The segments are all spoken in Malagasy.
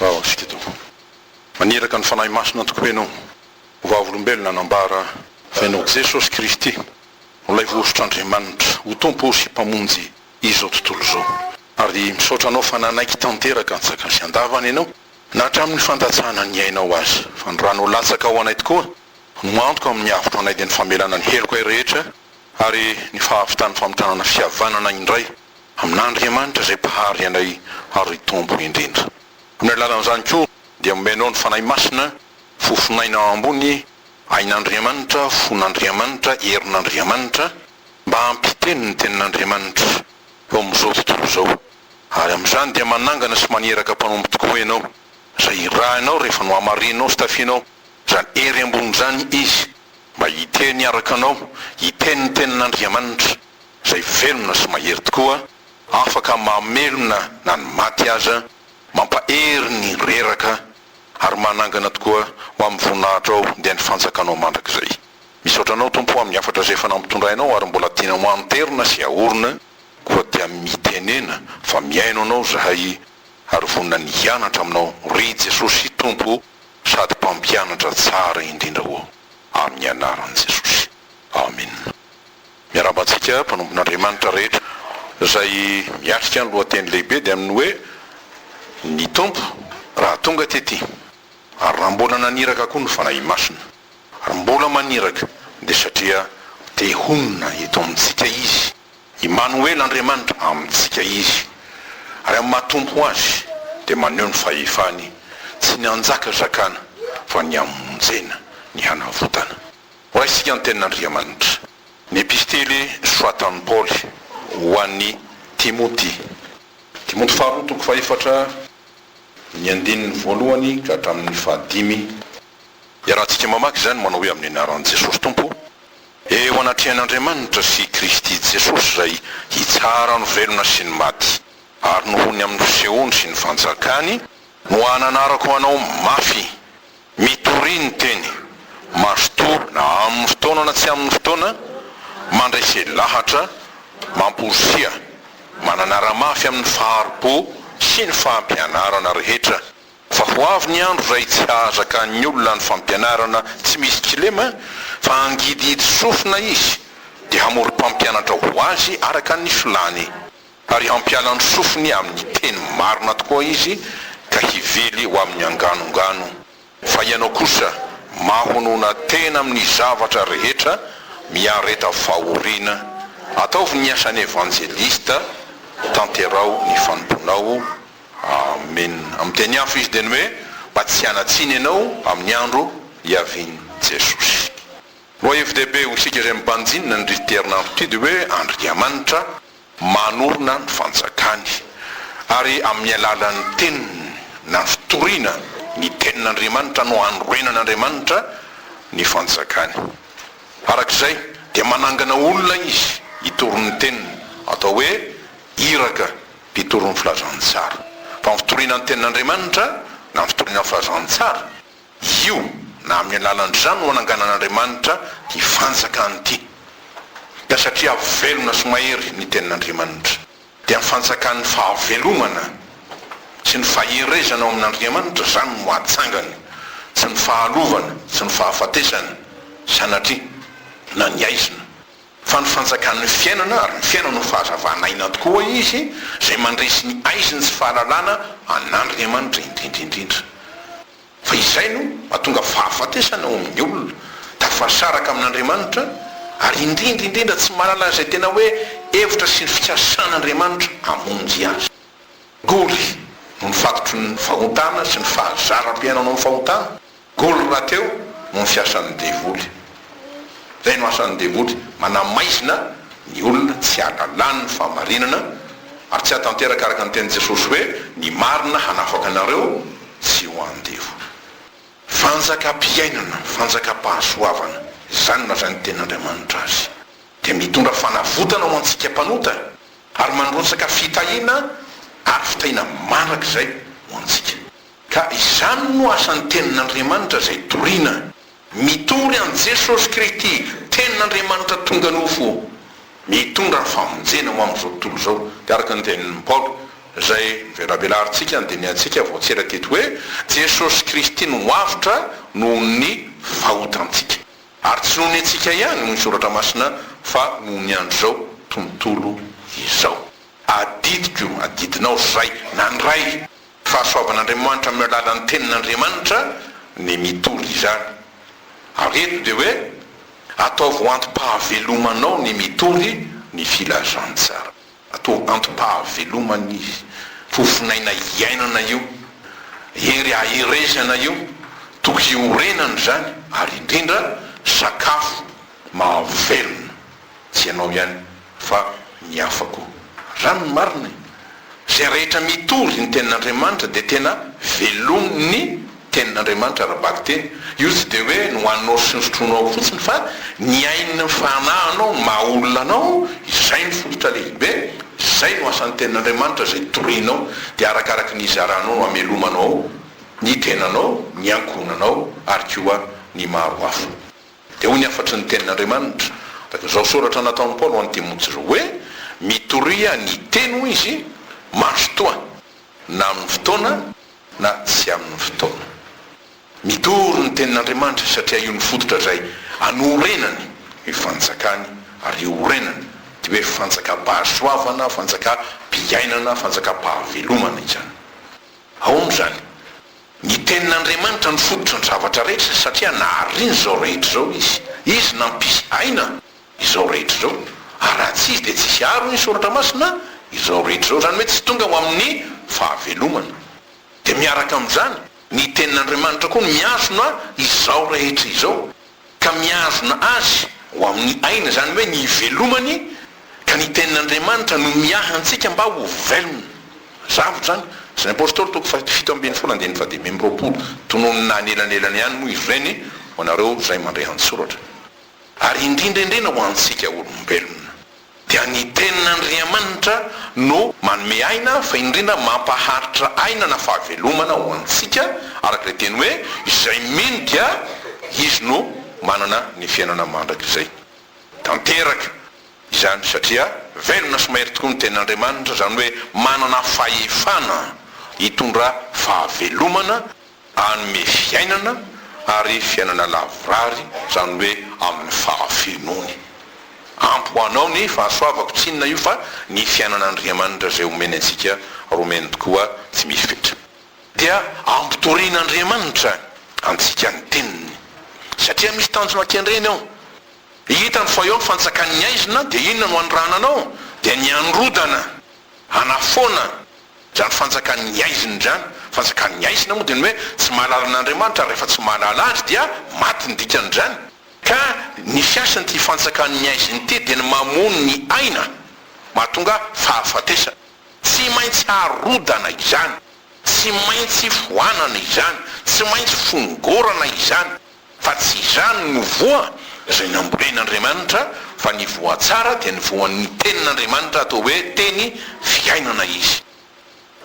Raha Wasika Tompoko. Maniraka ny Fanahy Masina tokoa ianao, ho vavolombelona anambara fa ianao Jesosy Kristy no ilay Voahosotr'Andriamanitra ho Tompo sy Mpamonjy izao tontolo izao. Ary misaotra anao fa nanaiky tanteraka antsakasy andavany ianao na hatramin'ny fandatsahana ny ainao aza. Fa ny ranao latsaka ao anay tokoa. no antoka amin'ny avotra anay dia ny famelana ny helokay rehetra ary ny fahavitan'ny famitranana fihavanana indray amin'Andriamanitra izay Mpahary anay ary Tompo indrindra. Amin'ny alalan'izany koa dia omenao ny Fanahy Masina, fofon'aina ambony, ain'Andriamanitra, fon'Andriamanitra, herin'Andriamanitra, mba hampiteny ny Tenin'Andriamanitra eo amin'izao tontolo izao. Ary amin'izany dia manangana sy maniraka mpanompo tokoa ianao izay irahinao rehefa nohamarinao sy tafianao Raha ery ambonin'izany izy, mba hiteny araka anao, hiteny ny tenin'Andriamanitra, izay velona sy mahery tokoa, afaka mamelona na ny maty aza, mampahery ny reraka, ary manangana tokoa ho amin'ny voninahitrao dia ny fanjakanao mandrakizay. Misaotra anao Tompo amin'ny hafatra izay efa nampitondrainao ary mbola tianao hanterina sy haorina, koa dia mitenena fa mihaino anao izahay ary vonona ny hianatra aminao, ry Jesosy Tompo sady mpampianatra tsara indrindra ho aho amin'ny anaran'i Jesosy. Amina. Miarahaba antsika mpanompon'Andriamanitra rehetra. Izay miatrika ny lohateny lehibe dia amin'ny hoe Ny Tompo raha tonga tety. Ary raha mbola naniraka koa ny Fanahy Masina. Ary mbola maniraka dia satria te honina eto amintsika Izy. Imanoela Andriamanitra amintsika izy ary amin'ny maha Tompo azy dia maneho ny fahefany tsy ny hanjakazakana fa ny hamonjena, ny hanavotana. Horaisika ny tenin'Andriamanitra. Ny epistily soratan'i Paoly ho an'i Timoty. Timoty faharoa toko fahefatra ny andininy voalohany ka hatramin'ny fahadimy. Iarahantsika mamaky izany manao hoe amin'ny anaran'i Jesosy Tompo Eo anatrehan'Andriamanitra sy i Kristy Jesosy izay hitsara ny velona sy ny maty, ary nohony amin'ny fisehoany sy ny fanjakany, no ananarako anao mafy, mitoria ny teny, mazotoa na amin'ny fotoana na tsy amin'ny fotoana, mandrese lahatra, mamporisika, mananara-mafy amin'ny fahari-po sy ny fampianarana rehetra, Fa ho avy ny andro izay tsy hahazakan'ny olona ny fampianarana tsy misy kilema, fa hangidihidy sofina izy, dia hamory mpampianatra ho azy araka ny filàny, ary hampiala ny sofiny amin'ny teny marina tokoa izy, ka hively ho amin'ny anganongano. Fa ianao kosa, mahonona tena amin'ny zavatra rehetra, miareta fahoriana, ataovy ny asan'ny evanjelista, tanteraho ny fanompoanao, Amen! Amin'ny teny hafa izy dia ny hoe, Mba tsy hanatsiny ianao amin'ny andro hiavian'i Jesosy. Lohahevi-dehibe ho isika izay mibanjinina an'irity herinandro ity dia hoe Andriamanitra manorina ny fanjakany ary amin'ny alalan'ny teniny na fitoriana ny tenin'Andriamanitra no hanorenan'Andriamanitra ny fanjakany. Araka izay dia manangana olona izy hitory ny teniny, atao hoe iraka. Mpitory ny Filazantsara. Fa ny fitoriana ny Tenin'Andriamanitra, na ny fitoriana ny Filazantsara, io, na amin'ny alalan'izany no ananganan'Andriamanitra ity Fanjakany ity. Ka satria velona sy mahery ny Tenin'Andriamanitra, dia ny Fanjakan'ny fahavelomana sy ny faherezana ao amin'Andriamanitra izany no atsangany, tsy ny fahalovana, tsy ny fahafatesana, sanatria, na ny haizina. Fa ny fanjakan' ny fiainana, ary ny fiainana ho fahazavan' aina tokoa hoy izy, izay mandresy ny haizin' tsy fahalalana an' Andriamanitra indrindra indrindra. Fa izay no mahatonga fahafatesana ao amin' ny olona, tafarisaraka amin' Andriamanitra, ary indrindra indrindra tsy mahalala an' izay tena hoe hevitra sy ny fikasan' Andriamanitra hamonjy azy. Akory no ny fakitry ny fahotana sy ny fahazaram-piainana ao amin' ny fahotana. Goal rahateo no ny fiasan'ny devoly. Zay no asan'ny devoly, manamaizina ny olona tsy hahalala ny fahamarinana ary tsy hahatanteraka araka ny tenin'i Jesosy hoe ny marina hanafaka anareo tsy ho an'ny devoly. Fanjakam-piainana, fanjakam-pahasoavana, izany no lazain'ny tenin'Andriamanitra azy. Dia mitondra fanavotana ho antsika mpanota ary mandrotsaka fitahiana ary fitahiana mandrakizay ho antsika. Ka izany no asan'ny Tenin'Andriamanitra izay toriana. Mitory an'i Jesosy Kristy, Tenin'Andriamanitra tonga nofo, mitondra ny famonjena ho amin'izao tontolo izao. Dia araka ny tenin'i Paoly izay novelabelarintsika, andinihantsika vao tsy ela teto hoe, Jesosy Kristy no avotra noho ny fahotantsika. Ary tsy noho ny antsika ihany, hoy ny Soratra Masina, fa noho ny andron'izao tontolo izao. Adidiko, adidinao izay, na ny Ray. Fahasoavan'Andriamanitra amin'ny alalan'ny Tenin'Andriamanitra ny mitory izany. Ary eto dia hoe, Ataovy ho antom-pahavelomanao ny mitory ny filazantsara. Ataovy antom-pahavelomana izy. Fofonaina iainana io. Hery aherezana io. Toky iorenana izany, ary indrindra, sakafo. mahavelona tsy ianao ihany fa ny hafa koa. Raha ny marina e! Izay rehetra mitory ny tenin'Andriamanitra dia tena velomin'ny tenin'Andriamanitra ara-bakiteny. Io tsy dia hoe ny hohaninao sy ny sotroinao fotsiny fa ny ain'ny fanahinao no maha olona anao, izay no fototra lehibe, izay no asan'ny tenin'Andriamanitra izay torianao dia arakaraky ny hizaranao no hamelomanao ny tenanao, ny ankohonanao ary koa ny maro hafa. Dia hoy ny hafatry ny Tenin'Andriamanitra, tahaka izao soratra nataon'i Paoly ho an'i Timoty izao, hoe, Mitoria ny teny, hoy izy, mazotoa, na amin'ny fotoana na tsy amin'ny fotoana. Mitory ny Tenin'Andriamanitra izy satria io ny fototra izay anorenany ny fanjakany, ary io orenany dia hoe fanjakam-pahasoavana, fanjakam-piainana, fanjakam-pahavelomana izany. Ahoana izany? Ny Tenin'Andriamanitra no fototra ny zavatra rehetra satria nahariny izao rehetra izao Izy. Izy nampisy aina izao rehetra izao, ary raha tsy Izy dia tsy hisy àry hoy ny Soratra Masina izao rehetra izao, izany hoe tsy tonga ho amin'ny fahavelomana. Dia miaraka amin'izany, ny Tenin'Andriamanitra koa no mihazona izao rehetra izao. ka mihazona azy ho amin'ny aina, izany hoe ny hivelomany, ka ny Tenin'Andriamanitra no miahy antsika mba ho velona. Zavatra izany. Asan' ny Apôstôly toko fahafito ambin'ny folo andininy fahadimy amby roapolo, tononina anelanelana ihany moa izy ireny ho anareo izay mandre an-tsoratra, ary indrindraindrindra ho antsika olombelona. dia ny tenin'Andriamanitra no manome aina fa indrindra mampaharitra aina na fahavelomana ho antsika araka ilay teny hoe izay mino dia izy no manana ny fiainana mandrakizay tanteraka izany satria velona sy mahery tokoa ny tenin'Andriamanitra izany hoe manana fahefana hitondra fahavelomana Hanome fiainana ary fiainana lavorary, izany hoe amin'ny fahafenoany. Ampy ho anao ny fahasoavako, tsy inona io fa ny fiainan'Andriamanitra izay omeny antsika, ary omeny tokoa tsy misy fetra. Dia ampitorian'Andriamanitra antsika ny Teniny, satria misy tanjona kendreny ao. Hitany fa eo ny fanjakan'ny haizina, dia inona no hanorananao? Dia ny hanorodana, hanafoana, Izany fanjakan'ny haizina izany, fanjakan'ny haizina moa dia ny hoe tsy mahalala an'Andriamanitra ary rehefa tsy mahalala Azy dia maty ny dikan'izany. Ka ny fiasan'ity fanjakan'ny haizina ity dia ny mamono ny aina, mahatonga fahafatesana. Tsy maintsy harodana izany, tsy maintsy foanana izany, tsy maintsy fongorana izany. Fa tsy izany no voa izay nambolen'Andriamanitra, fa ny voa tsara dia ny voan'ny Tenin'Andriamanitra, atao hoe Teny fiainana izy.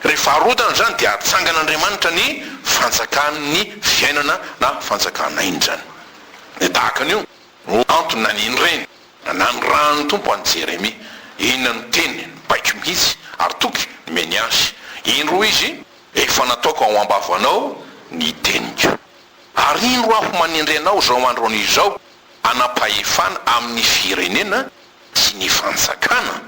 Rehefa arodana izany dia atsangan'Andriamanitra ny fanjakan'ny fiainana na fanjakan'aina izany. Dia tahaka an'io no antony naniany ireny. Nanirahan'ny Tompo an'i Jeremia. Inona no teny baiko mihitsy ary toky nomeny azy? Indro hoy Izy, Efa nataoko ao am-bavanao ny teniko. Ariro aho manendry anao izao andro izao hanam-pahefana amin'ny firenena sy ny fanjakana,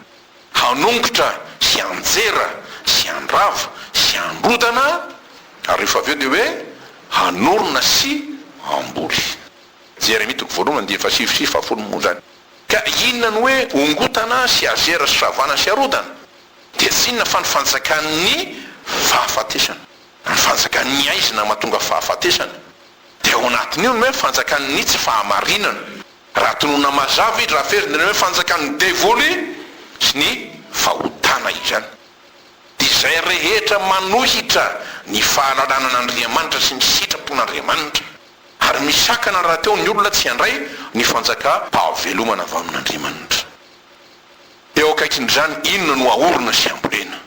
hanongotra sy hanjera sy handrava sy handrodana ary rehefa avy eo dia hoe hanorina sy hamboly. Jeremia toko voalohany andininy fahasivy sy fahafolo moa izany. Ka inona no hoe hongotana sy hazera sy ravana sy harodana? Dia tsy inona fa ny fanjakan'ny fahafatesana. Ny fanjakan'ny haizina mahatonga fahafatesana. Dia ao anatin'io ny hoe fanjakan'ny tsy fahamarinana. Raha tononina mazava i Drafezy dia ny hoe fanjakan'ny devoly sy ny fahotana izany. Izay rehetra manohitra ny fahalalana an'Andriamanitra sy ny sitrapon'Andriamanitra. Ary misakana rahateo ny olona tsy handray ny fanjakam-pahavelomana avy amin'Andriamanitra. Eo akaikin'izany inona no ahorona sy hambolena?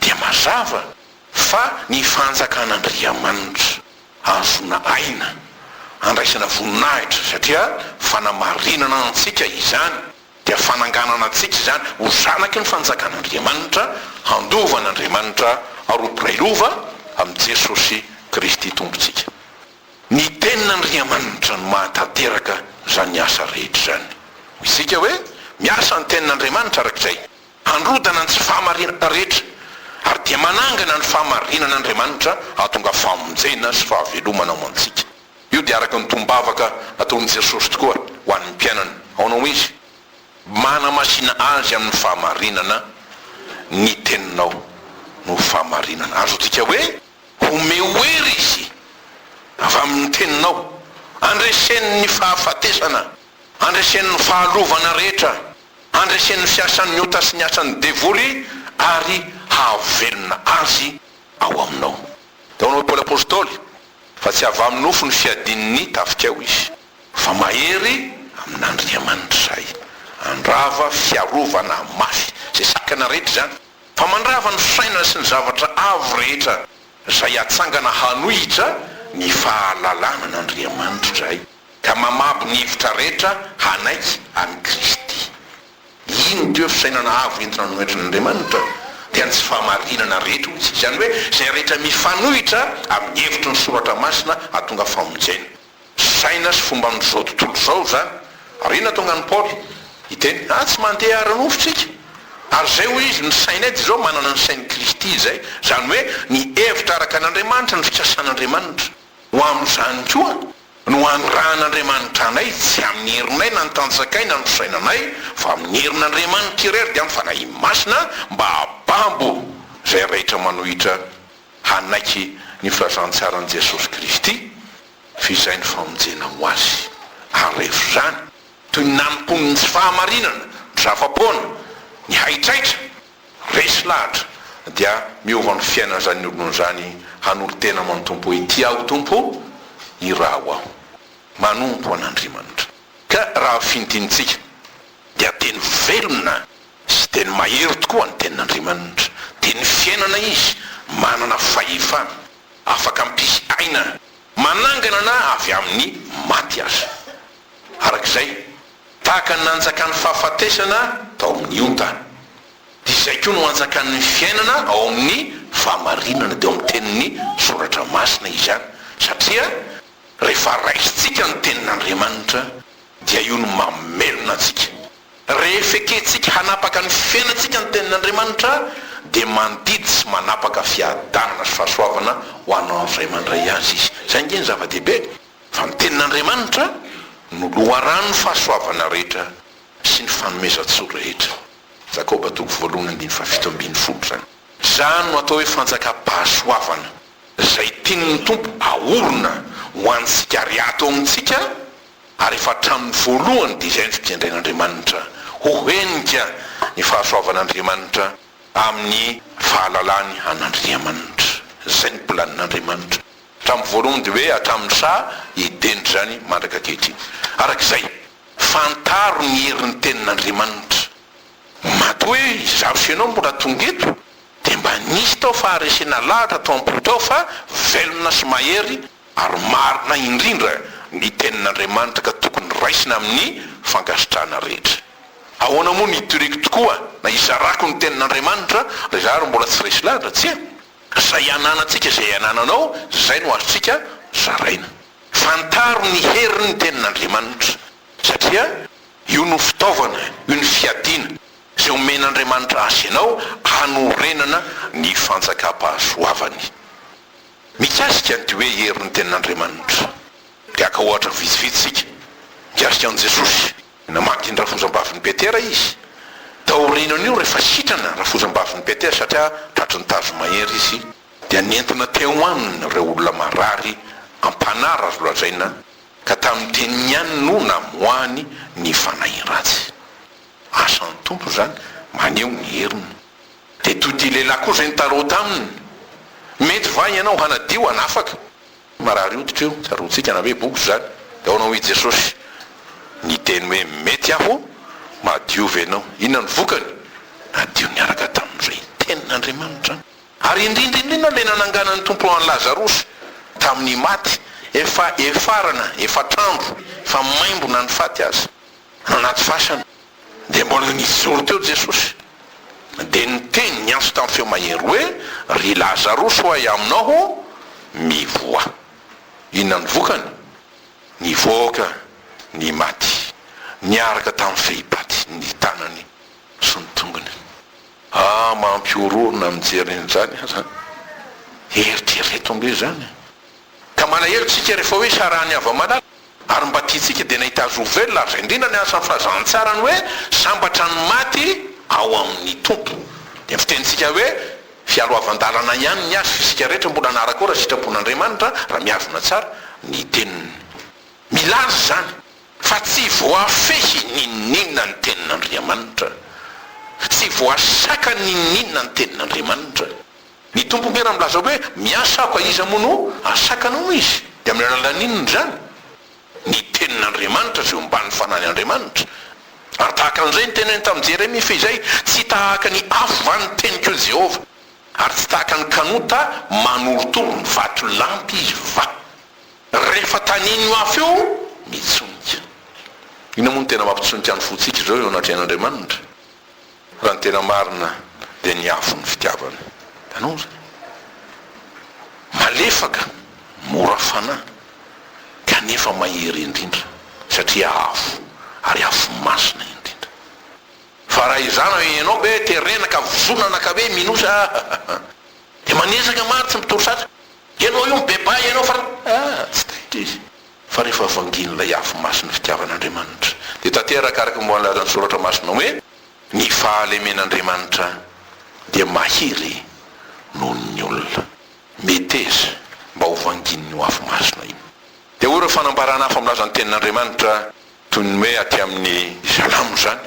Dia mazava. Fa ny fanjakan'Andriamanitra ahazoana aina, andraisana voninahitra, satria fanamarinana antsika izany, dia fananganana antsika izany ho zanaky ny fanjakan'Andriamanitra, handova an'Andriamanitra ary ho mpiray lova amin'i Jesosy Kristy Tompontsika. Ny Tenin'Andriamanitra no mahatanteraka izany asa rehetra izany. Midika hoe miasa ny Tenin'Andriamanitra arak'izay. Handrodana ny tsy fahamarinan-ta rehetra ary dia manangana ny fahamarinana Andriamanitra hahatonga famonjena sy fahavelomana ho antsika. Io dia araka ny tombavaka nataon'i Jesosy tokoa ho an'ny mpianany. Aona hoy Izy? Manamasina azy amin'ny fahamarinana ny teninao no fahamarinana. Azontsika hoe, omeo hery Izy avy amin'ny teninao, andreseny ny fahafatesana, andreseny ny fahalovana rehetra. Handreseny ny fiasan'ny ota sy ny asan'ny devoly ary hahavelona azy ao aminao. Dia hoy Paoly Apostoly, Fa tsy avy amin'ny nofo ny fiadian'ny tafikao izy, fa mahery amin'Andriamanitra izay. Handrava fiarovana mafy izay sakana rehetra izany, fa mandrava ny fisainana sy ny zavatra avo rehetra izay hatsangana hanohitra ny fahalalana an'Andriamanitra izahay. ka mamabo ny hevitra rehetra hanaiky an'i Kristy. Iny toe fisainana avo entina anohetrana Andriamanitra dia ny tsy fahamarinana rehetra hoy isika, izany hoe izay rehetra mifanohitra amin'ny hevitry ny Soratra Masina hahatonga famonjena. Saina sy fomban'izao tontolo izao izany. Ary inona tonga an'i Paoly hiteny, ah tsy mandeha ara-nofo isika, ary izay hoy izy ny sainay dia izao manana ny sain'i Kristy izay, izany hoe ny hevitra araka an'Andriamanitra, ny fikasan'Andriamanitra ho amin'izany koa. No hanirahan'Andriamanitra anay, tsy amin'ny herinay na ny tanjakay na ny fisainanay, fa amin'ny herin'Andriamanitra iray ary dia amin'ny Fanahiany Masina, mba hahababo izay rehetra manohitra hanaiky ny filazantsaran'i Jesosy Kristy, fa izay ny famonjena ho azy. Arevo izany, toy ny nanompoany ny tsy fahamarinana, ny zava-poana, ny haitraitra. Resy lahatra dia miova ny fiainan'izany olona izany hanolo-tena aman Tompo hoe Ty aho Tompo, iraho aho. Manompo an Andriamanitra. Ka raha fintinintsika dia teny velona sy teny mahery tokoa ny tenin'Andriamanitra. Teny fiainana izy, manana fahefana, afaka mpisy aina, manangana na avy amin'ny maty aza. Arak'izay Tahaka ny nanjakan'ny fahafatesana tao amin'ny onta, dia izay koa no hanjakan'ny fiainana ao amin'ny fahamarinana, dia ao amin'ny tenin'ny Soratra Masina izy any, satria rehefa raisintsika ny tenin'Andriamanitra, dia io no mamelona antsika. Rehefa ekentsika hanapaka ny fiainantsika ny tenin'Andriamanitra, dia mandidy sy manapaka fiadanana sy fahasoavana ho anao izay mandray azy izy. Izay ange no zava-dehibe. Fa ny Tenin'Andriamanitra no loharanon'ny fahasoavana rehetra sy ny fanomezan-tsoa rehetra. Jakoba toko voalohany andininy fahafito ambin'ny folo izany. Izany no atao hoe fanjakam-pahasoavana, izay tian'ny Tompo aorina ho antsika ary ato amintsika, ary efa hatramin'ny voalohany dia izay no fikendrain'Andriamanitra, ho henika ny fahasoavan'Andriamanitra amin'ny fahalalany an'Andriamanitra. Izay no planin'Andriamanitra. Hatramin'ny voalohany dia hoe hatramin'ny saha edena izany mandraka ankehitriny. Araka izay, fantaro ny herin'ny Tenin'Andriamanitra. Matoa hoe izaho sy ianao mbola tonga eto, dia mba nisy tao faharesena lahatra tao am-po tao fa velona sy mahery ary marina indrindra ny Tenin'Andriamanitra ka tokony raisina amin'ny fankasitrahana rehetra. Ahoana moa no hitoriako tokoa na hizarako ny Tenin'Andriamanitra raha izaho ary mbola tsy resy lahatra, tsia? Izay ananantsika, izay anananao, izay no azontsika zaraina. Fantaro ny herin'ny Tenin'Andriamanitra, satria io no fitaovana, io no fiadiana izay omen'Andriamanitra azy ianao hanorenana ny fanjakam-pahasoavany. Mikasika an'ity hoe herin'ny Tenin'Andriamanitra, dia haka ohatra vitsivitsy isika mikasika an'i Jesosy, Namaky ny rafozambavin'i Petera izy. Taorian'io, rehefa sitrana ny rafozambavin'i Petera satria tratry ny tazomahery izy, dia nentina teo aminy ireo olona marary am-panara, azo lazaina ka tamin'ny teniny ihany no namoahany ny fanahy ratsy. Asan'ny Tompo izany, maneho ny heriny. Dia toy ity lehilahy koa izay nitarao taminy, Mety va ianao hanadio, hanafaka? Marary hoditra io, tsaroantsika na hoe box izany. Dia ahoana hoy i Jesosy? Niteny hoe, Mety Aho mahadiova ianao. Inona no vokany? Nadio niaraka tamin'irey Tenin'Andriamanitra. Ary indrindra indrindra ilay nananganan'ny Tompo an'i Lazarosy tamin'ny maty, efa efarana, efatr'andro, efa maimbona ny faty aza, anaty fasana. Dia mbola nijoro teo Jesosy, dia niteny niantso tamin'ny feo mahery hoe, Ry Lazarosy ho ahy aminao ho, mivoaha. Inona no vokany? Nivoaka ny maty, niaraka tamin'ny fehipaty ny tanany sy ny tongony. Ah, mampihorohoro na mijery an'izany aza. Eritrereto aloha izany. Ka malahelo tsika rehefa hoe sarahan'ny hava-malala. Ary mba tiantsika dia nahita azy ho velona ary izay indrindra ny asan'ny fahazahan-tsara ny hoe sambatra ny maty ao amin'ny Tompo. Dia ny fitenintsika hoe fialoavan-dalana ihany ny azy fa isika rehetra mbola hanaraka ao raha sitrapon'Andriamanitra raha mihazona tsara ny teniny. Milaza izany fa tsy voafehy n'inon'inona ny tenin'Andriamanitra. Tsy voasakana n'inon'inona ny tenin'Andriamanitra. Ny Tompo ve raha milaza hoe miasa aho ka iza moa no hansakana hono Izy? Dia amin'ny alalan'ny inona izany? Ny Tenin'Andriamanitra izay omban' ny Fanahin' Andriamanitra. Ary tahaka an'izay ny teneniny tamin'i Jeremia, Fehizay tsy tahaka ny afo va ny teniko eo Jehovah? Ary tsy tahaka ny kanota manorotoro ny vatolampy Izy va? Rehefa tanin'io afo io, mitsonika. Inona moa no tena mampitsonika ny fontsika izao eo anatrehan'Andriamanitra? Raha ny tena marina dia ny afo ny fitiavana. Tanora. Malefaka, mora fanahy, kanefa mahery indrindra, satria afo, ary afo masina indrindra. Fa raha izany hoe ianao be terena ka vozonana ka hoe minosa ahahaha. Dia manezaka maro tsy mitory satra. Ianao io mibebaha ianao fa ah! tsy taitra izy. Fa rehefa vangin'ilay afo masin'ny fitiavan'Andriamanitra, dia tanteraka araka ny voalazan'ny Soratra Masina hoe, Ny fahalemen'Andriamanitra dia mahery noho ny olona. Meteza mba ho vangin'io afo masina io. Dia hoy ireo fanambarana hafa milaza ny Tenin'Andriamanitra, toy ny hoe aty amin'ny Salamo izany,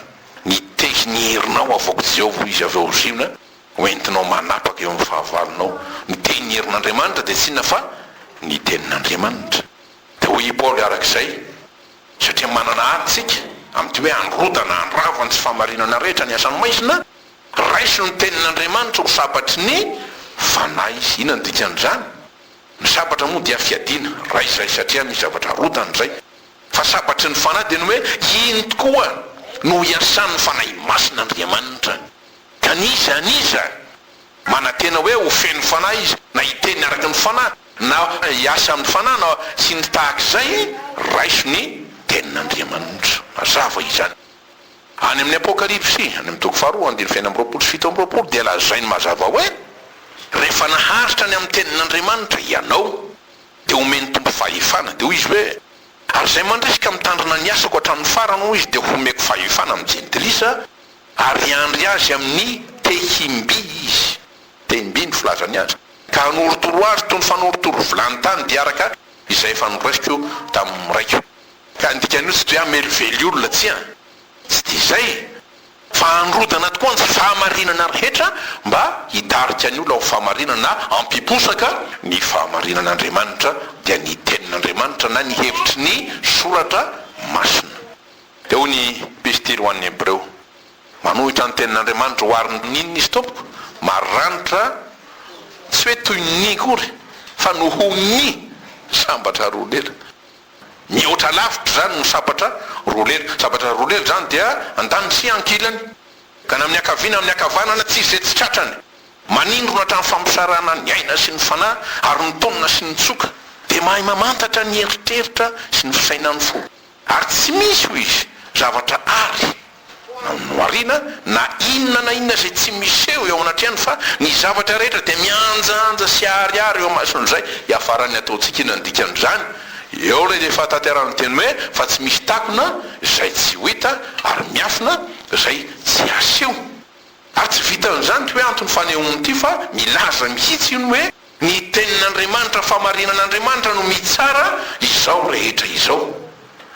Nitehy ny herinao havoak'i Jehovah ho izy avy ao Ziona, Ho entinao manapaka eo amin'ny fahavalonao. Ny teny herin'Andriamanitra dia tsy inona fa ny tenin'Andriamanitra. Dia hoy i Paoly araka izay, Satria manana ady isika, amin'ity hoe handrodana, handrava ny tsy fahamarinana rehetra ny asan'ny maizina, raiso ny tenin'Andriamanitra ho sabatry ny fanahy. Inona no dikan'izany? Ny sabatra moa dia fiadiana, raiso izay satria misy zavatra arodana izay. Fa sabatry ny fanahy dia ny hoe ino tokoa no hiasan'ny fanahy masin'Andriamanitra. Ka ny iza an'iza manantena hoe ho feno fanahy izy, na hiteny araka ny fanahy, na hiasa amin'ny fanahy, na sy ny tahaka izay, raiso ny tenin'Andriamanitra. Mazava izany. Any amin'ny Apokalypsy, any amin'ny toko faharoa, andininy fahenina amby roapolo sy fito amby roapolo, dia lazainy mazava hoe, Rehefa naharitra ny amin'ny tenin'Andriamanitra hianao, dia homen'ny Tompo fahefana. Dia hoy izy hoe, Ary izay mandresy ka mitandrina ny asako hatramin'ny farany, hoy izy, dia homeko fahefana amin'ny jentilisa, Ary hiandry azy amin'ny tehim-by izy, tehim-by no filazany azy, ka hanorotoro azy toy ny fanorotoro vilany tany dia araka izay efa noraisiko tamin'ny raiko. Ka ny dikan'io tsy dia hamelively olona, tsia, tsy dia izay, fa handrodana tokoa ny fahamarinana rehetra mba hitarika ny olona ho fahamarinana na hampiposaka ny fahamarinan'Andriamanitra, dia ny Tenin'Andriamanitra na ny hevitry ny Soratra Masina. Eo ny Epistily ho an'ny Hebreo. Manohitra ny Tenin'Andriamanitra ho ary nino nisy tompoko, maranitra, tsy hoe toy ny ny akory, fa noho ny sabatra roa lela. Mihoatra lavitra izany ny sabatra roa lela. Sabatra roa lela izany dia andaniny sy ankilany, ka na amin'ny ankaviana na amin'ny ankavanana, tsy izay tsy tratrany. Manindrona hatrany fampisarahana ny aina sy ny fanahy, ary ny tonona sy ny tsoka, dia mahay mamantatra ny eritreritra sy ny fisainan'ny fo. Ary tsy misy, hoy izy, zavatra àry no ariana, na inona na inona izay tsy miseho eo anatrehan'ny, fa ny zavatra rehetra dia mihanjanja sy aharihary eo amason'izay iafaran'ny ataontsika. Inona ny dikan'izany? Eo ilay efa tanterahan'ny teny hoe, Fa tsy misy takona izay tsy ho hita, ary miafina izay tsy haseho. Ary tsy vitan'izany ity hoe antony fanehoana ity, fa milaza mihitsy io ny hoe, Ny Tenin'Andriamanitra, Fahamarinan'Andriamanitra no mitsara izao rehetra izao.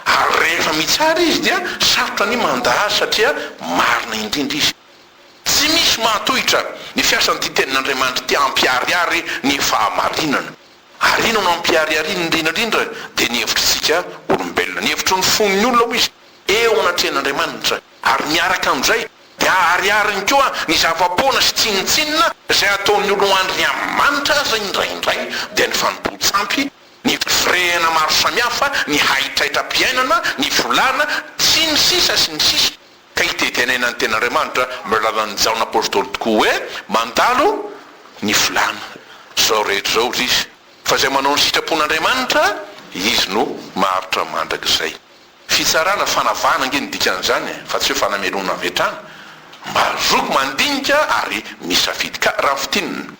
Ary rehefa mitsara Izy dia sarotra ny manda Azy satria marina indrindra Izy. Tsy misy mahatohitra ny fiasan'ity Tenin'Andriamanitra ity hampiharihary ny fahamarinana. Ary inona no hampiharihariany indrindra indrindra dia ny hevitritsika olombelona. Ny hevitry ny fon'ny olona hoy Izy, eo anatrehan'Andriamanitra, ary miaraka amin'izay Dia aharihariny koa ny zava-poana sy tsinontsinona izay ataon'ny olo andriny amin'ny manitra aza indraindray dia ny fanompoan-tsampy, ny firehena maro samihafa, ny haitraitram-piainana, ny volana, sy ny sisa sy ny sisa ka itedenena ny tenin'Andriamanitra amin'ny alalan'i Jaona Apostoly tokoa hoe, Mandalo ny volana izao rehetra izao ry izy, fa izay manao ny sitrapon'Andriamanitra, izy no maharitra mandrakizay. Fitsarana fanavahana ange ny dikan'izany e, fa tsy hoe fanamelohana avy hatrany, mba zoky mandinika ary misafidy ka raha fintinina.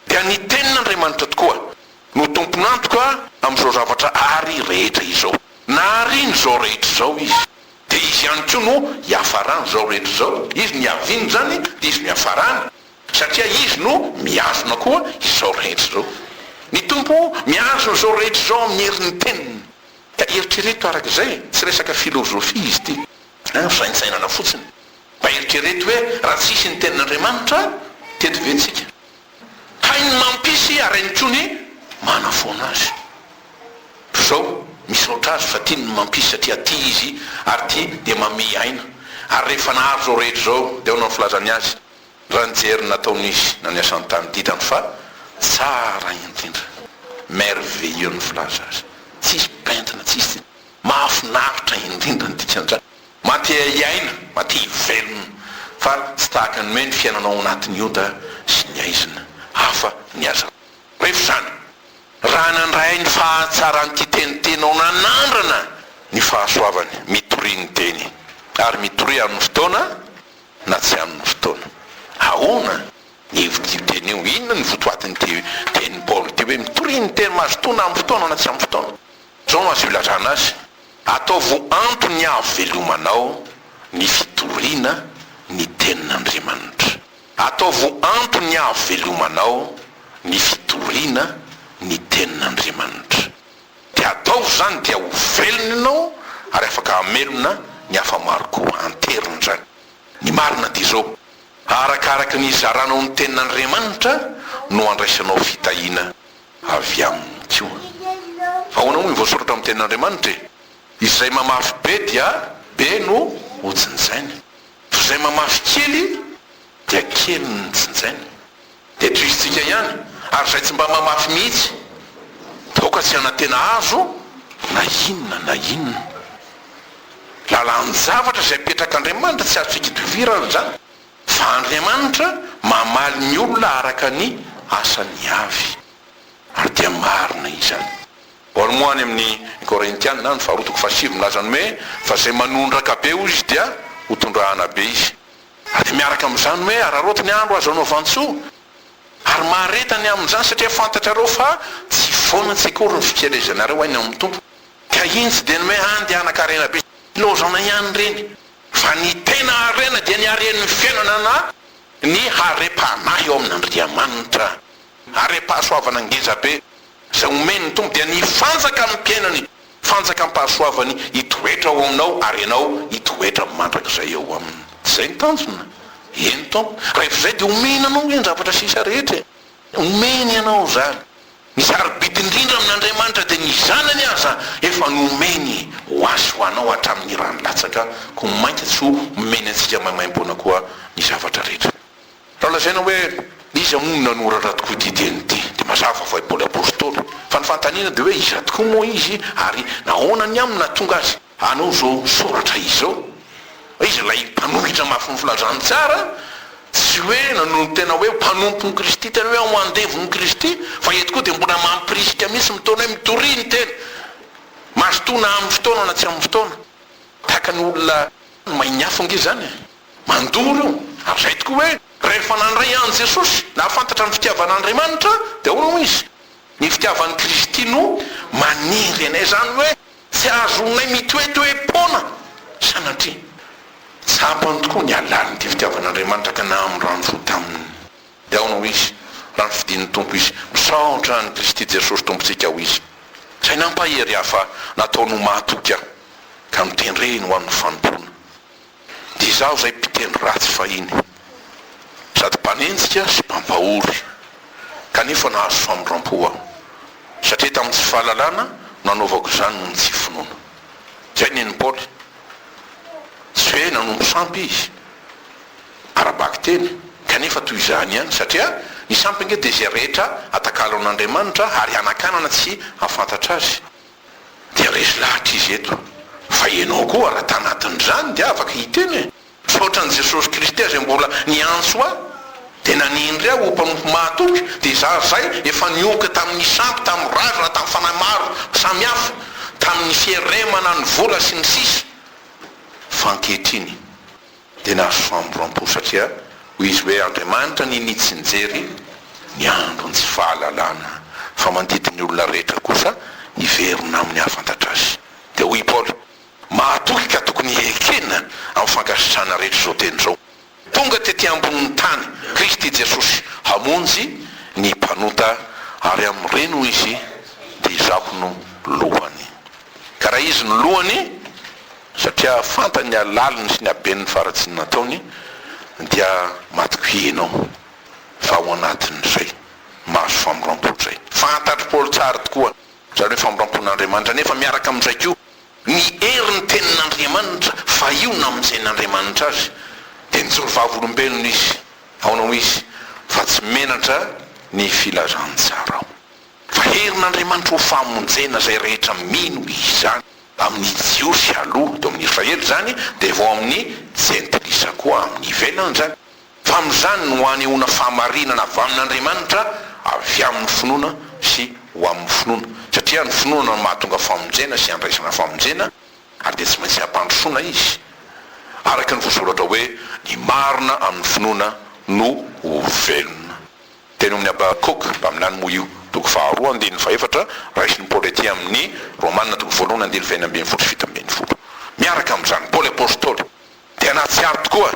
Dia ny tenin'Andriamanitra tokoa no tompon'antoka amin'izao zavatra ary rehetra izao. Naharian'izao rehetra izao Izy, dia Izy ihany koa no hiafaran'izao rehetra izao, Izy no hiaviany izany dia Izy no hiafarany, satria Izy no mihazona koa izao rehetra izao. Ny Tompo mihazona izao rehetra izao amin'ny herin'ny teniny. Ka eritrereto araka izay, tsy resaka filozofia izy ity an, fisaintsainana fotsiny. Ka eritrereto hoe raha tsy hisy ny tenin'Andriamanitra, teto ve tsika? Hay ny mampisy ary hainy koa ny manafoana azy. Toy izao, misaotra azy fa tiany ny mampisy satria tia izy ary tia dia mamehy aina. Ary rehefa nahary izao rehetra izao, dia ahoana ny filazany azy? Raha nijery ny nataon'izy na ny asan'ny tany didany fa tsara indrindra. Merveilleux ny filaza azy. Tsisy pentina, tsisy tsiny. Mahafinaritra indrindra ny dikan-dra. Matehiaina, matehivelona. Fa tsy tahaka ny hoe ny fiainanao ao anatin'ny ota sy ny aizina. Hafa ny azy. Revy izany. Raha nandray ny fahatsaran'ity teniteny aho nanandrana ny fahasoavany mitoria ny teny ary mitoria amin'ny fotoana, na tsy amin'ny fotoana. Ahoana ny hevitr'io teny io? Inona ny votoatin'ity tenin'i Paoly ity hoe mitoriana ny teny mazotoana amin'ny fotoana na tsy amin'ny fotoana? Izao no azo ilazana azy, Ataovo antony hahavelomanao ny fitoriana ny tenin'Andriamanitra. Ataovo antony hahavelomanao ny fitoriana ny tenin'Andriamanitra. Dia ataovy izany dia ho velona ianao ary afaka hamelona ny hafa maro koa hanterina izany. Ny marina dia izao, arakaraka ny hizaranao ny tenin'Andriamanitra no handraisanao fitahiana avy aminy koa. Ahoana moa ny voasoratra amin'ny tenin'Andriamanitra e? Izay mamafy be dia be no hojinjainy, fa izay mamafy kely dia kely no nojinjainy. dia tohizintsika ihany, ary izay tsy mba mamafy mihitsy dia aoka tsy hanantena azo na inona na inona. Lalan-javatra izay petrak'Andriamanitra tsy azontsika itovirana izany, fa Andriamanitra mamaly ny olona araka ny asany avy, ary dia marina izany. Paoly moa any amin'ny Korintiana, ny faharoa toko fahasivy, milaza ny hoe, Fa izay manondraka be, hoy izy, dia hotondrahana be izy. Dia miaraka amin'izany hoe araraoty ny andro azo anaovan-tsoa, ary mahareta ny amin'izany, satria fantatrareo fa tsy foana tsy akory ny fikelezanareo any amin'ny Tompo, ka iny tsy dia ny hoe handehanan-karena be sy laozana ihany ireny, fa ny tena harena dia ny haren'ny fiainana na ny harem-panahy eo amin'Andriamanitra, harem-pahasoavana ngezabe izay omen'ny Tompo, dia ny fanjaka amim-piainany Fanjakam-pahasoavany hitoetra ao aminao ary ianao hitoetra mandrakizay eo aminy. Izay ny tanjona? Eny Tompo. Rehefa izay dia omeny anao ve ny zavatra sisa rehetra e? Omeny anao izany. Ny sarobidy indrindra amin'Andriamanitra dia ny Zanany aza efa nomeny ho azy sy ho anao hatramin'ny rany latsaka, koa mainka tsy ho omeny antsika maimaimpoana koa ny zavatra rehetra. Raha lazaina hoe iza moa no nanoratra tokoa ity teny ity dia mazava fa i Paoly Apostoly. Fa ny fanontaniana dia hoe iza tokoa moa izy ary nahoana ny aminy nahatonga azy hanao izao soratra izao? Iza ilay mpanohitra mafin'ny filazantsara? Tsy hoe nanolo tena hoe mpanompon'i Kristy tena hoe ao andevon'i Kristy fa eto koa dia mbola mampirisika mihitsy mitaona hoe mitoria ny tena. Mazotoa na amin'ny fotoana na tsy amin'ny fotoana. Tahaka ny olona mahay ny afo ange izany e! Mandoro io. Ary izay tokoa hoe, rehefa nandray an'i Jesosy, nahafantatra ny fitiavan'Andriamanitra, dia ahoana hoy izy? Ny fitiavan'i Kristy no maniry anay, izany hoe tsy azonay mitoetoe-poana sanatria. Tsapany tokoa ny halalin'ity fitiavan'Andriamanitra ka nahamoy rano fo taminy. Dia ahoana hoy izy, raha nofidin'ny Tompo izy? Misaotra an'i Kristy Jesosy Tompontsika hoy izy, izay nampahery ahy fa nataony ho mahatoky ahy, ka notendreny ho amin'ny fanompoana. Izaho izay mpiteny ratsy fahiny, sady mpanenjika sy mpampahory, kanefa nahazo famindram-po aho, satria tamin'ny tsy fahalalana no nanaovako izany noho ny tsy finoana. Izay nen'i Paoly. Tsy hoe nanompo sampy izy, ara-bakiteny, kanefa toy izany ihany, satria ny sampy ange dia izay rehetra atakalon'Andriamanitra ary hanakanana tsy hahafantatra azy. Dia resy lahatra izy eto. Fa ianao koa raha tanatin'izany dia afaka hiteny e! Fa ohatran'i Jesosy Kristy aza mbola niantso ahy dia nanendry ahy ho mpanompo mahatoky dia izaho izay efa niohoka tamin'ny sampy, tamin'ny razana, tamin'ny fanahy maro samihafa, tamin'ny fieremana ny vola sy ny sisa Fa ankehitriny. Dia nahazo fahamorram-po satria hoy izy hoe, Andriamanitra ny nitsinjery ny andron'ny tsy fahalalana, fa mandidy ny olona rehetra kosa hiverina amin'ny hahafantatra azy. Dia hoy i Paoly, Mahatoky ka tokony hiekena amin'ny fankasitrahana rehetra izao teny izao. Tonga tetỳ ambonin'ny tany Kristy Jesosy hamonjy ny mpanota, ary amin'ireny, hoy izy, dia izaho no lohany. Ka raha izy no lohany, Satria fantany ny halaliny sy ny haben'ny faharatsiana nataony, dia matokia ianao, fa ao anatin'izay, mahazo famindram-po izay. Fantatr'i Paoly tsara tokoa izany hoe famindram-pon'Andriamanitra, nefa miaraka amin'izay koa, ny herin'ny Tenin'Andriamanitra, fa io namonjen'Andriamanitra azy, dia nijoro vavolombelona izy. Ahoana hoy izy, Fa tsy menatra ny filazantsarao, fa herin'Andriamanitra ho famonjena izay rehetra mino izany. Amin'ny Jiosy aloha teo amin'ny Israely izany, dia vao amin'ny Jentilisa koa amin'ny ivelany izany. Fa amin'izany no hanehoana fahamarinana avy amin'Andriamanitra avy amin'ny finoana sy ho amin'ny finoana. Satria ny finoana no mahatonga famonjena sy andraisana famonjena, ary dia tsy maintsy hampandrosoana izy. Araka ny voasoratra hoe, Ny marina amin'ny finoana no ho velona. Teny omin'i Habakoka, mpaminany moa io, toko faharoa andininy fahefatra, raisin'i Paoly aty amin'ny Romana toko voalohany andininy fahenina ambin'ny folo sy fito ambin'ny folo. Miaraka amin'izany, Paoly Apostoly dia nahatsiaro tokoa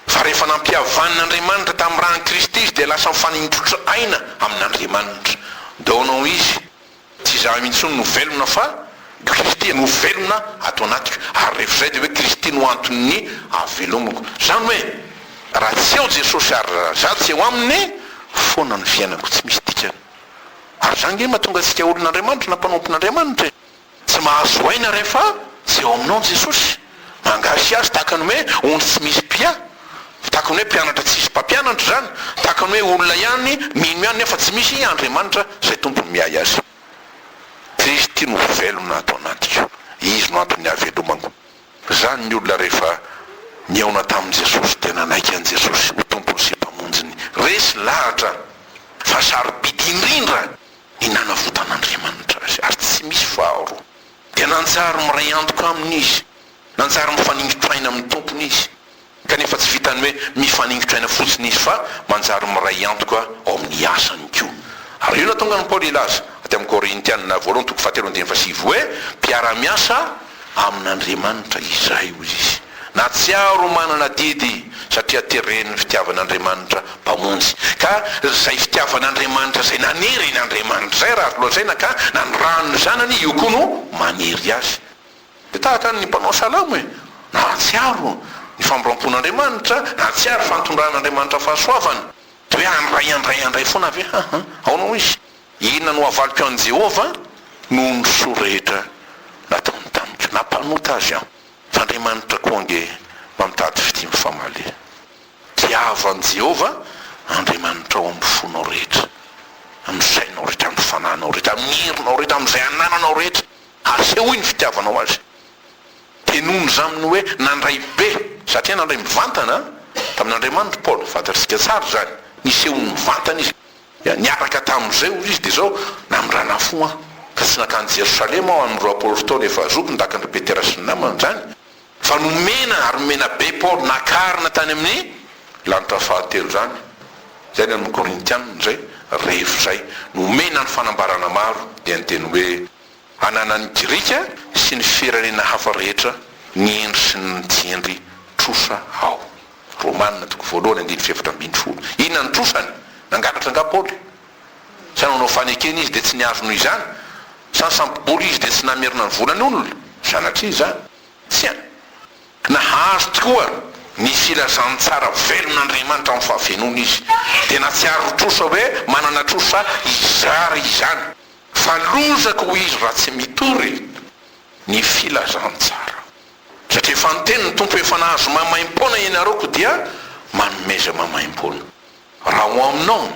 fa rehefa nampihavan'Andriamanitra tamin'ny ran'i Kristy izy dia lasa mifaninjotra aina amin'Andriamanitra. Dônao izy. Tsy izaho intsony no velona fa Kristy no velona ato anatiko ary rehefa izay dia hoe Kristy no anton'ny havelomako. Izany hoe raha tsy eo Jesosy ary raha za tsy eo aminy foana ny fiainako tsy misy dikany. Ary izany nge mahatonga antsika olon'Andriamanitra na mpanompon'Andriamanitra e! Tsy mahazo aina rehefa tsy eo aminao Jesosy. Angasiazy tahaka ny hoe ondry tsy misy mpia, tahaka ny hoe mpianatra tsisy mpampianatra izany, tahaka ny hoe olona ihany mino ihany nefa tsy misy Andriamanitra izay tompony miahy azy. Kristy no velona ato anatiko, Izy no antony hahavelomako. Izany ny olona rehefa nihaona tamin'i Jesosy dia nanaiky an'i Jesosy ho Tompony sy Mpamonjiny. Resy lahatra fa sarobidy indrindra ny nanavotan'Andriamanitra azy ary tsy misy faharoa. dia nanjary miray antoka aminy izy, nanjary mifaningotra aina amin'ny Tompony izy, kanefa tsy vitan'ny hoe mifaningotra aina fotsiny izy fa manjary miray antoka ao amin'ny asany koa. Ary io no nahatonga an'i Paoly hilaza, aty amin'ny Korintiana voalohany toko fahatelo andininy fahasivy, hoe mpiara-miasa amin'Andriamanitra izahay, hoy izy. Nahatsiaro manana adidy satria teren'ny fitiavan'Andriamanitra Mpamonjy. Ka izay fitiavan'Andriamanitra izay naniry iny Andriamanitra izay raha azo lazaina ka nanirano ny Zanany, io koa no maniry Azy. Dia tahaka ny mpanao salamo e! Nahatsiaro ny famoram-pon'Andriamanitra, nahatsiaro fa nitondran'Andriamanitra fahasoavana. Dia hoe handray, handray, handray foana ve aho? Ahoana hoy izy? Inona no havaliko an'i Jehovah noho ny soa rehetra nataony tamiko? Nampanota azy aho. F'Andriamanitra koa ange mba mitady fitia mifamaly. Tiavo an'i Jehovah Andriamanitrao amin'ny fonao rehetra, amin'ny sainao rehetra, amin'ny fanahinao rehetra, amin'ny herinao rehetra, amin'izay anananao rehetra, ary sehoy ny fitiavanao azy. Tenony izany amin'ny hoe nandray be, satria nandray mivantana tamin'Andriamanitra i Paoly. Fantatsika tsara izany, niseho nivantana izy. Dia niaraka tamin'izay, hoy izy, dia izao namindrana fo aho, ka tsy nankany Jerosalema aho amin'ny roapolo taona efa zoky ndakin-dry Petera sy ny namany izany, fa nomena ary nomena be Paoly nakarina tany amin'ny lanitra fahatelo izany. Izay ny amin'ny Korintianina izay, rehefa izay nomena ny fanambarana maro, dia ny teny hoe, ananan'ny Grika sy ny firenena hafa rehetra, ny hendry sy ny tsy hendry, trosa aho. Romana toko voalohany andininy fahefatra ambin'ny folo. Inona no trosany? Nangalatra angaha Paoly? Sa nanao fanekena izy dia tsy nihazo noho izany? Sa nisambo-bola izy dia tsy namerina ny vola ny olona? Sanatria izany? Tsia! Nahazo tokoa ny filazantsara velon'Andriamanitra amin'ny fahafenoana izy. Dia nahatsiaro ho trosa hoe manana trosa hizara izany. Fa lozako ho izy raha tsy mitory ny filazantsara. Satria efa niteny ny Tompo efa nahazo maimaimpoana ianareo koa dia manomeza maimaimpoana. Raha ao aminao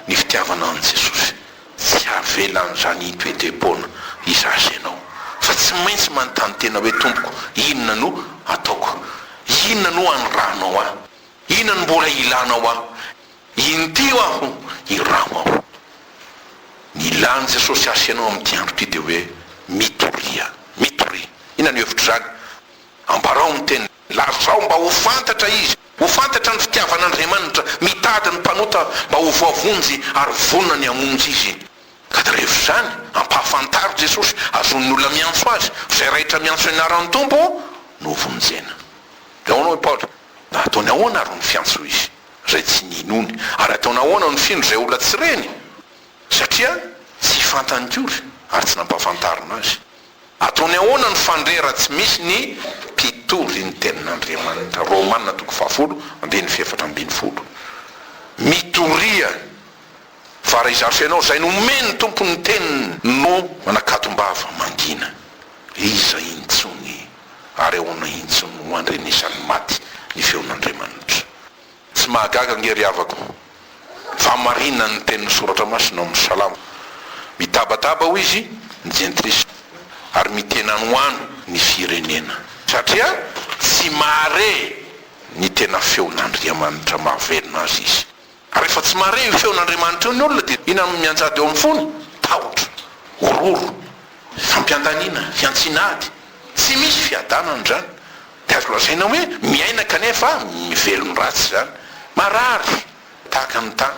ny fitiavana an'i Jesosy, tsy avelan'izany hitoetem-poana hizaza ianao, fa tsy maintsy manontany tena hoe Tompoko inona no ataoko? Inona no anirahanao ahy? Inona no mbola ilanao ahy? Intio aho, iraho aho. Ny ilàn'i Jesosy ahy sy ianao amin'ity andro ity dia hoe, Mitoria, mitoria. Inona no hevitr'izany? Ambarao ny teniny. Lazao mba ho fantatra Izy, ho fantatra ny fitiavan'Andriamanitra, mitady ny mpanota mba ho voavonjy ary vonona ny hamonjy izy. Gadaraevo izany, ampahafantaro Jesosy, azon'ny olona miantso Azy, fa izay raitra miantso ny anaran'ny Tompo no hovonjena. Eoana hoy Paoly, Ataony ahoana ary ny fiantso izy izay tsy ninony? Ary ataony ahoana ny findro izay olona tsy reny? Satria tsy fantany kory ary tsy nampahafantarina azy. Ataony ahoana ny fandre raha tsy misy ny mpitory ny tenin'Andriamanitra? Romana toko fahafolo, andininy fahefatra ambin'ny folo. Mitoria fa raha izany fenao izay nomen'ny Tompo ny teniny no manakatom-bava mangina, iza intsony ary ahoana intsony no handrenesan'ny maty ny feon'Andriamanitra? Tsy mahagaga ange ry havako fa marina ny tenin'ny Soratra Masina ao amin'ny Salamo, Mitabataba, hoy izy, ny jentilisa, ary mitena anoano ny firenena, satria tsy mahare ny tena feon'Andriamanitra mahavelona azy izy. Rehefa tsy mahare io feon'Andriamanitra io ny olona dia inona no mianjady ao amin'ny fony? Tahotra, horohoro, fampiantaniana, fihantsiana ady. Tsy misy fiadanana izany. Dia azo lazaina hoe miaina kanefa velon'ny ratsy izany. Marary tahaka ny tany.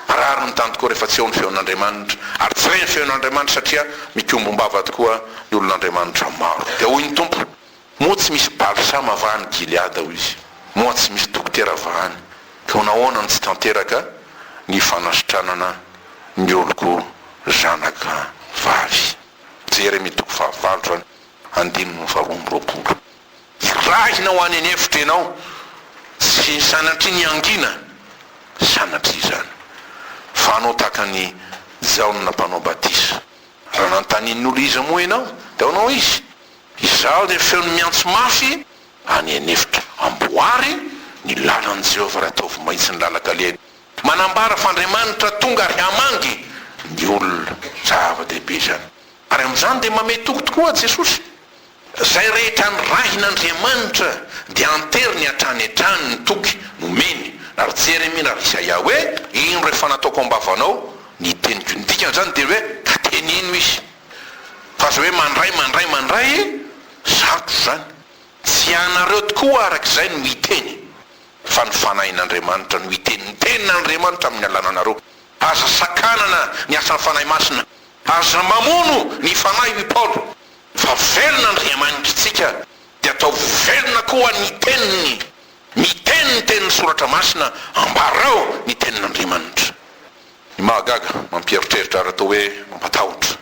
Marary ny tany tokoa rehefa tsy eo ny feon'Andriamanitra. Ary tsy re ny feon'Andriamanitra satria mikombombava tokoa ny olon'Andriamanitra maro. Dia hoy ny Tompo. Moa tsy misy balsama va any Gileada, hoy izy, moa tsy misy dokotera va any? Ka nahoana no tsy tanteraka ny fanasitranana ny oloko zanaka vavy? Jeremia toko fahavalo andininy faharoa amby roapolo. Irahina ho any an'efitra ianao, tsy sanatria niangina, sanatria izany, fa hanao tahaka an'i Jaona mpanao batisa. Raha nanontanian'ny olona iza moa ianao, dia ao no izy. Izaho dia feo ny miantso mafy any an'efitra. Amboary ny lalan'i Jehovah ary ataovy mahitsy ny lalan-kaleny. Manambara f'Andriamanitra tonga ary hamangy ny olona. Zava-dehibe izany. Ary amin'izany dia mamehy toky tokoa Jesosy. Izay rehetra nirahin'Andriamanitra dia anteriny hatrany hatrany ny toky nomeny. Na ry Jeremia na ry Isaia hoe, Ino rehefa nataoko am-bavanao ny teniko. Ny dikan'izany dia hoe, ka teneno izy. Fa aza hoe mandray, mandray, mandray e! Zandro izany. Tsy ianareo tokoa araka izay no hiteny fa ny Fanahin'Andriamanitra no hiteny. Ny Tenin'Andriamanitra amin'ny alalanareo. Aza sakanana ny asan'ny Fanahy Masina. Aza mamono ny Fanahy hoy Paoly. Fa velona Andriamanitritsika dia ataovy velona koa ny Teniny. Miteny ny tenin'ny Soratra Masina, ambarao ny Tenin'Andriamanitra. Ny mahagaga, mampieritreritra ary atao hoe mampatahotra,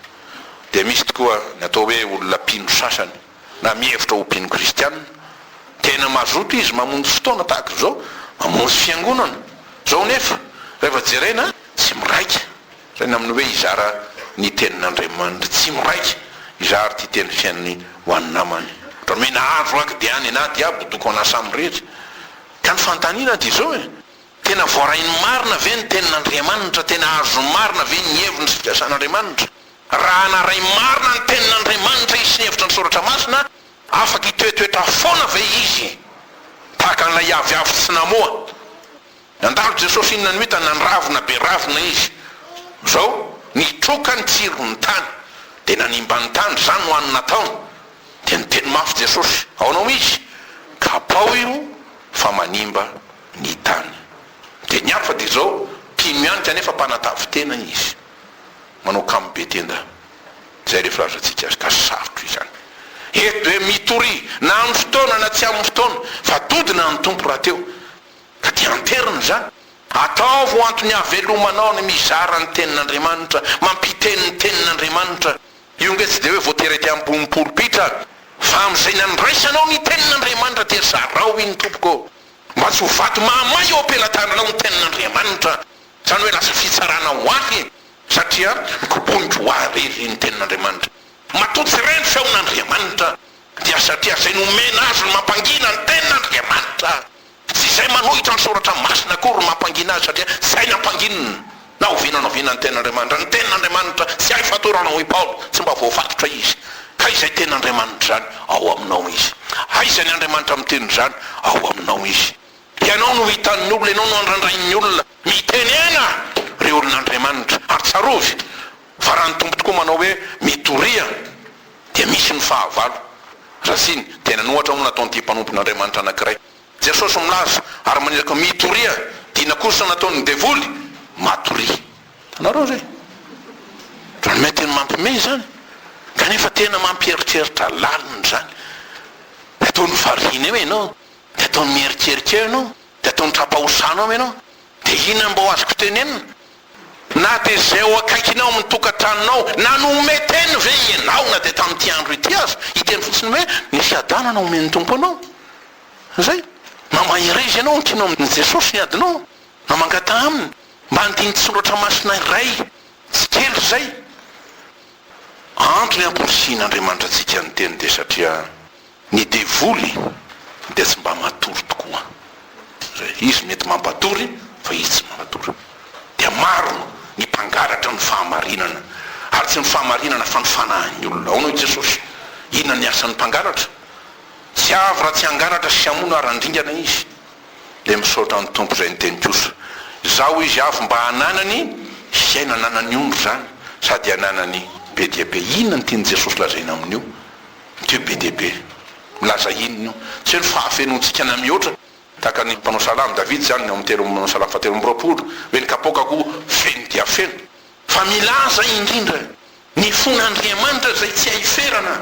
dia misy tokoa ny atao hoe olona mpino sasany, na mihevitra ho mpino kristiana. Tena mazoto izy mamonjy fotoana tahaka izao, mamonjy fiangonana. Izao anefa, rehefa jerena, tsy miraika. Izay ny amin'ny hoe hizara ny Tenin'Andriamanitra. Tsy miraika hizara ity teny fiainany ho an'ny namany. Dramena azo aky dia any na diabo doko an'Assam rehetra. Ka ny fanontaniana dia izao e! Tena voarainy marina ve ny tenin'Andriamanitra? Tena azony marina ve ny heviny sy fiasan'Andriamanitra? Raha naray marina ny tenin'Andriamanitra izy sy ny hevitra ny Soratra Masina, afaka hitoetoetra foana ve izy tahaka an'ilay aviavy tsy namoa? Nandalo Jesosy inona no hitany? Nandravona be ravina izy. Zao, nitroka ny tsiron'ny tany, dia nanimba ny tany, izany no hany nataony. Dia niteny mafy Jesosy, Aonao izy? Kapaho io, fa manimba ny tany. Dia ny hafa dia izao, mpino ihany kanefa mpanatavin-tena izy. Manao kamo be tenda. Izay ilay filazantsika azy ka sarotra izany. Eto dia mitoria, na amin'ny fotoana na tsy amin'ny fotoana, fa dodona ny Tompo rahateo, ka dia anterina izany. Ataovy ho antony havelomanao ny mizara ny Tenin'Andriamanitra, mampiteny ny Tenin'Andriamanitra. Io ange tsy dia hoe voatery ety ambony polpitra, fa amin'izay nandraisanao ny Tenin'Andriamanitra dia zarao iny tompoko. mba tsy ho vato mahamay eo am-pelatananao ny tenin'Andriamanitra, izany hoe lasa fitsarana ho ahy, satria mikoboniko ho ahy re, ry ny tenin'Andriamanitra. Matoa tsy re ny feon'Andriamanitra, dia satria izay nomena azy no mampangina ny tenin'Andriamanitra. Tsy izay manohitra ny soratra masina akory no mampangina azy, satria izay nampanginina. Na oviana na oviana ny Tenin'Andriamanitra, ny Tenin'Andriamanitra tsy hay fatorana hoy Paoly, tsy mba voafatotra Izy. Ka izay Tenin'Andriamanitra izany, ao aminao Izy. Aiza ny Andriamanitra miteny izany? Ao aminao Izy. Ianao no hitan'ny olona, ianao no andrandrain'ny olona. Mitenena ry olon'Andriamanitra, ary tsarovy fa raha ny Tompo tokoa manao hoe, Mitoria, dia misy ny fahavalo. Raha ziny, dia nanohatra hono nataon'ity mpanompon'Andriamanitra anankiray. Jesosy milaza ary maniraka mitoria dina kosa nataon'ny devoly matoria. Hitanareo zay? Drame tena mampime zany kanefa tena mampieritreritra lalina izany. De ataony variana eo ianao, de ataony mieritreritra eo ianao, de ataony tra-pahosanao ianao, de inona no mba ho azoko tenenina? Na dia izay ao akaikinao amin'ny tokantranonao nanome teny ve ianao na dia tamin'ity andro ity aza, hiteny fotsiny hoe nisy hadanana omen'ny Tompo anao? Izay. Na mahereza ianao amin'ny tianao amin'i Jesosy ny adinao, na mangataha Aminy mba handinin-tsoratra masina iray tsy kely izay. Antony hamporisihin'Andriamanitra antsika ny Teniny dia satria. Ny devoly dia tsy mba matory tokoa re. Izy mety mampatory fa izy tsy manatory. Dia maro ny mpangalatra ny fahamarinana ary tsy ny fahamarinana fa ny fanahin'ny olona. Aono i Jesosy? Inona ny asan'ny mpangalatra? Tsy avy raha tsy hangalatra sy hamono ary handringana izy. Dia misaotra ny Tompo izay niteny kosa izaho izy avy mba hananany fiainana anan'ny ondry izany sady hananany be dia be. Inona ny tian'i Jesosy lazaina amin'io? Teo be dia be. Milaza inona io? Tsy hoe ny fahafenoantsika na mihoatra, tahaka ny mpanao salamo Davida izany ny ao amin'ny telo amby, salamo fahatelo amby roapolo, hoe ny kapoakako feno dia feno. Fa milaza indrindra ny fon'Andriamanitra izay tsy hay ferana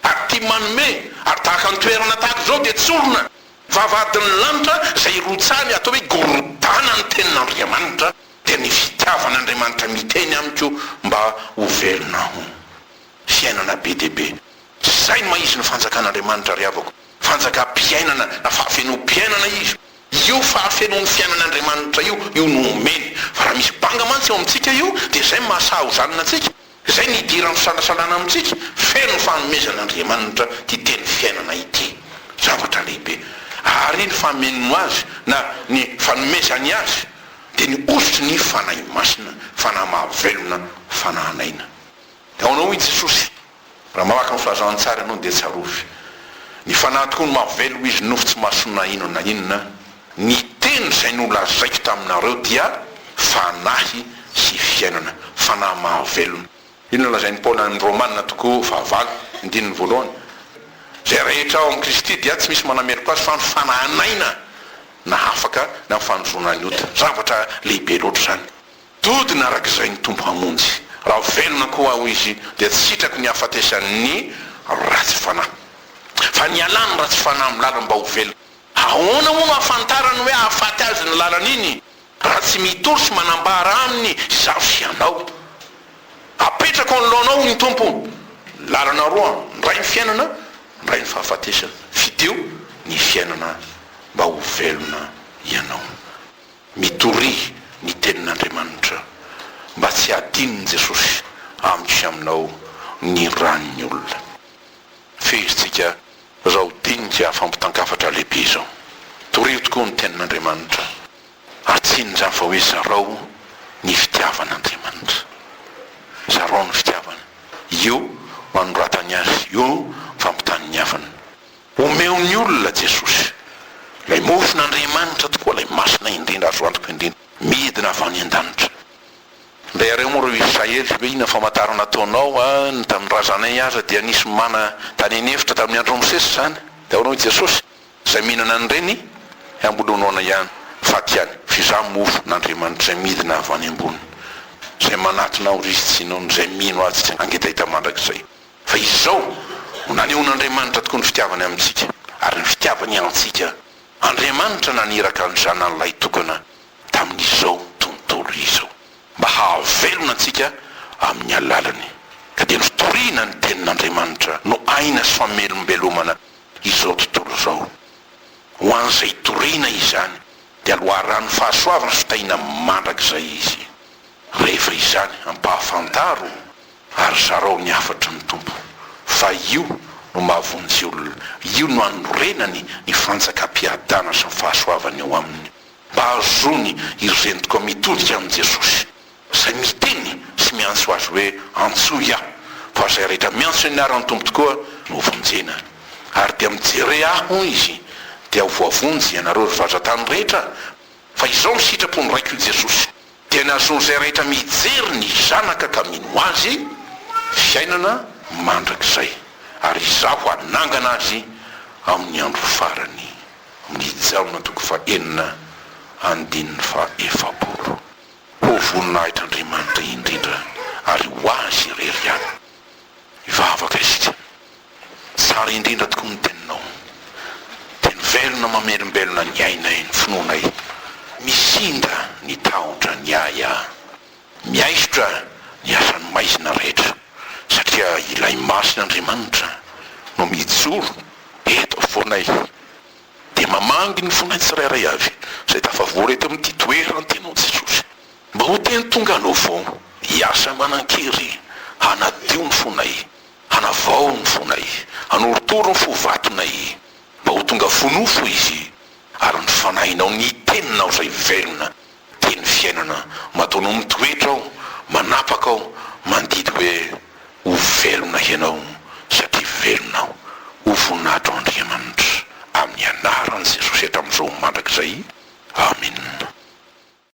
ary tia manome, ary tahaka ny toerana tahaka izao dia tsy orina, vavahadin'ny lanitra izay irotsahany, atao hoe gorodana ny tenin'Andriamanitra, dia ny fitiavan'Andriamanitra miteny amiko mba ho velona hono. Fiainana be dia be. Tsy izay ny maha izy ny Fanjakan'Andriamanitra ry havako. Fanjakam-piainana na fahafenoam-piainana izy. Io fahafenoan'ny fiainan'Andriamanitra io, io no omeny. Fa raha misy banga mantsy eo amintsika io, dia izay no maha sahaozanina antsika. Izay no idiran'ny fisalasalana amintsika. Feno ny fanomezan'Andriamanitra ity teny fiainana ity. Zavatra lehibe. Ary ny fameno azy na ny fanomezany azy dia ny hosotry ny Fanahy Masina, Fanahy mahavelona, Fanahin'aina. Ao anao i Jesosy. Raha mamaky ny filazantsara ianao dia tsarovy. Ny Fanahy tokoa no mahaveloma izy nofo tsy masonina inona na inona. Ny teny izay nolazaiko taminareo dia Fanahy sy fiainana. Fanahy mahavelona. Inona no lazain'i Paoly any amin'ny Romana toko fahavalo, andininy voalohany? Izay rehetra ao amin'i Kristy dia tsy misy manameloka azy fa ny Fanahin'aina na afaka na ny fanozona ny ota. Zavatra lehibe loatra izany. Dodona araka izay ny Tompo hamonjy. Raha velona koa aho, Izy dia tsy sitrako ny hahafatesan' ny ratsy fanahy. Fa nialà ny ratsy fanahy amin'ny lalany mba ho velona. Ahoana moa no hahafantarany hoe hahafaty azy ny lalany iny, raha tsy mitory sy manambara aminy izaho sy ianao? Apetrako anoloanao, hoy ny Tompo, lalana roa, ndray ny fiainana, ndray ny fahafatesana. Fidio ny fiainana mba ho velona ianao. Mitoria ny tenin'Andriamanitra mba tsy hadinon'i Jesosy amiko sy aminao ny ran'ny olona. Fehezintsika izao dinika fampitan-kafatra lehibe izao. Torio tokoa ny tenin'Andriamanitra. Atsiny izany fa hoe zarao ny fitiavan'Andriamanitra. Zarao ny fitiavana. Io no anoratany azy, io no fampitany ny havany. Omeo ny olona Jesosy. Ilay mofon'Andriamanitra tokoa, ilay masina indrindra, azo antoka indrindra, midina avy any an-danitra. Ndray areo moa ireo Israely hoe inona famantarana ataonao a, ny tamin'ny razanay aza dia nisy mana tany an'efitra tamin'ny andron'i Mosesy izany, dia ahoana hoy Jesosy, izay mihinana an'ireny hambolonoana ihany, faty ihany, fa izaho mofo n'Andriamanitra izay midina avy any ambony, izay manatona aho ry Tsiôny, izay mino ahy tsy hangetaheta mandrakizay. Fa izao no nanehon'Andriamanitra tokoa ny fitiavany amintsika, ary ny fitiavany antsika, Andriamanitra naniraka ny Zanany lahitokana tamin'izao tontolo izao, mba hahavelona antsika amin'ny alalany. Ka dia ny fitoriana ny Tenin'Andriamanitra no aina sy famelombelomana izao tontolo izao. Ho an'izay hitoriana izany, dia loharanon'ny fahasoavana sy fitahiana mandrakizay izy. Rehefa izany, ampahafantaro Ary zarao ny hafatry ny Tompo, fa io no mahavonjy olona, io no anorenany ny fanjakam-piadana sy ny fahasoavany eo aminy, mba hahazoany iry zentiko mitodika amin'i Jesosy, izay miteny sy miantso azy hoe, Antsoy aho, fa izay rehetra miantso ny anaran'ny Tompo tokoa no hovonjena. Ary dia mijere ahy, hoy izy, dia ho voavonjy ianareo ry vazantany rehetra, fa izao ny sitrapo ny Raiko, hoy Jesosy, Dia ny hahazoan'izay rehetra mijery ny Zanaka ka mino Azy, fiainana mandrakizay, ary Izaho hanangana azy amin'ny andro farany. Amin'i Jaona toko fahenina andininy fahaefapolo. Ho voninahitr'Andriamanitra indrindra ary ho Azy irery ihany mivavaka isika. Tsara indrindra tokoa ny teninao. Teny velona mamelombelona ny ainay, ny finoanay. Misinda ny tahotra ny ahy a. Miaisotra ny asan'ny maizina rehetra satria ilay masin' Andriamanitra no mijoro eto afovoanay dia mamangy ny fonay tsirairay avy izay tafavory eto amin'ity toeran ty anao Jesosy mba ho teny tonga anao vao hiasa manan-kery hanadio ny fonay Hanavao ny fonay, hanorotoro ny fo vatonay, mba ho tonga fo nofo izy, ary ny fanahinao ny teninao izay velona, teny fiainana, matoa no mitoetra ao, manapaka ao, mandidy hoe, Ho velona hianao, satria velona aho. Ho voninahitro Andriamanitra, amin'ny anaran'i Jesosy hatramin'izao mandrakizay. Amina.